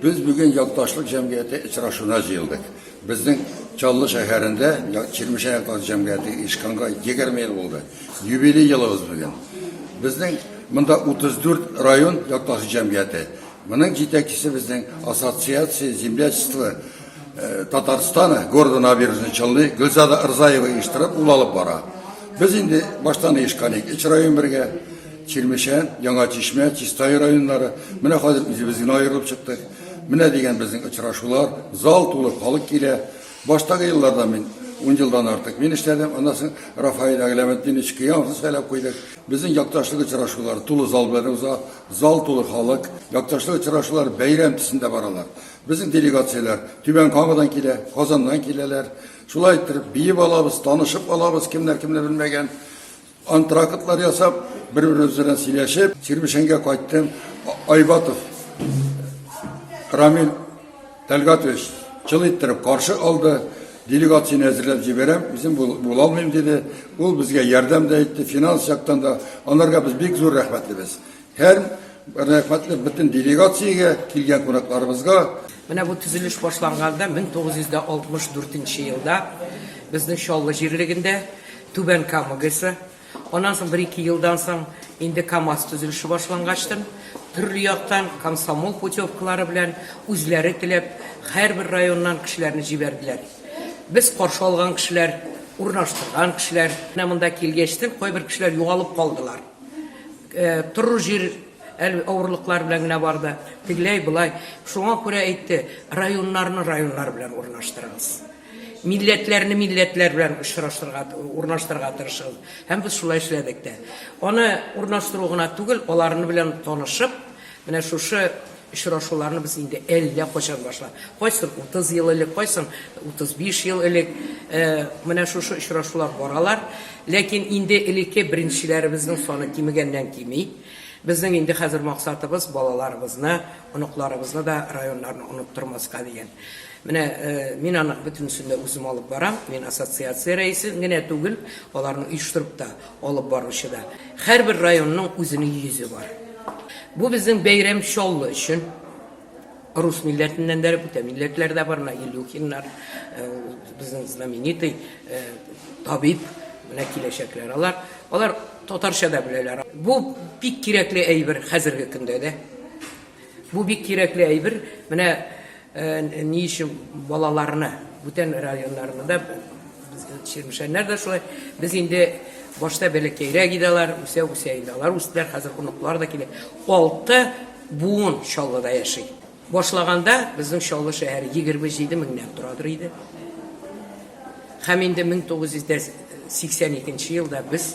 Без бүген якташлык җәмгыяте очрашуына җыелдык. Безнең Чаллы шәһәрендә Чирмешән якташлык җәмгыяте ишканга 20 ел булды. Юбилей елыбыз бүген. Безнең монда 34 район якташлык җәмгыяте. Моның җитәкчесе безнең ассоциация землячества э, Татарстана города Набережный Челны Гөлзада Рзаева оештырып ул алып бара. Без инде баштан оешкан идек. Өч район бергә Чирмешән, Яңа Чишмә, Чистай районнары, менә хәзер үзебез генә аерылып чыктык. Менә дигән безнең очрашулар, зал тулы халык килә. Баштагы елларда мин ун елдан артык мин эшләдем, аннан соң Рафаэль Әгъләметдинович Кыямовны сайлап куйдык. Безнең якташлык очрашулары тулы зал белән уза, зал тулы халык. Якташлык очрашулары бәйрәм төсендә баралар. Безнең делегацияләр Түбән Камадан килә, Казаннан киләләр. Шулай иттереп, биеп алабыз, танышып алабыз, кемнәр кемне белмәгән. Антрактлар ясап, бер-беребез белән сөйләшеп, Чирмешәнгә кайттым. Айбатов Рамил Тәлгатович чыл иттереп каршы алды. Делегацияне әзерләп җибәрәм, үзем була алмыйм диде. Ул безгә ярдәм дә итте, финанс яктан да. Анарга без бик зур рәхмәтлебез. Һәр рәхмәтлек бөтен делегациягә, килгән кунакларыбызга. Менә бу төзелеш башланганда 1964 елда безнең Чаллы җирлегендә Түбән Кама ГЭСы, аннан соң бер-ике елдан соң инде КАМАЗ төзелеше башлангачтын, төрле яктан комсомол путевкалары белән үзләре теләп һәрбер районнан кешеләрне җибәрделәр. Без каршы алган кешеләр, урнаштырган кешеләр, менә монда килгәчтен кайбер кешеләр югалып калдылар. Торыр җир әле авырлыклар белән генә барды. Тегеләй болай. Шуңа күрә әйтте, районнарны районнар белән урнаштырыгыз. Милләтләрне милләтләр белән очраштырга, урнаштырырга тырышыгыз. Һәм без шулай эшләдек тә. Аны урнаштыру гына түгел, аларны белән танышып, Менә шушы очрашуларны без инде әллә кайчан башладык. Кайсын 30 ел элек, кайсын 35 ел элек менә шушы очрашулар баралар. Ләкин инде элекке беренчеләребезнең саны кимегәннән кими. Безнең инде хәзер максатыбыз балаларыбызны, оныкларыбызны да районнарны оныттырмаска дигән. Менә мин аның бөтенесен дә үзем алып барам. Мин ассоциация рәисе генә түгел, аларны оештырып та, Алып баручыда һәрбер районның үзенең йөзе бар. Бу безнең бәйрәм Чаллы өчен. Рус милләтеннән дә, бүтә милләтләр дә бар, менә Илюхиннар, э, безнең знаменитый э, табиб, менә киләчәкләр алар. Алар татарча да беләләр. Бу бик кирәкле әйбер хәзерге көндә дә. Бу бик кирәкле әйбер. Менә ни өчен балаларны бүтән районнарны да чирмешәннәр дә шулай. Без инде башта бәләкәйрәк иде алар, үсә үсә инде алар үстеләр, хәзер оныклар да килә. Алты буын Чаллыда яши. Башлаганда безнең Чаллы шәһәре 27 меңнән торадыр иде. Һәм инде 1982 елда без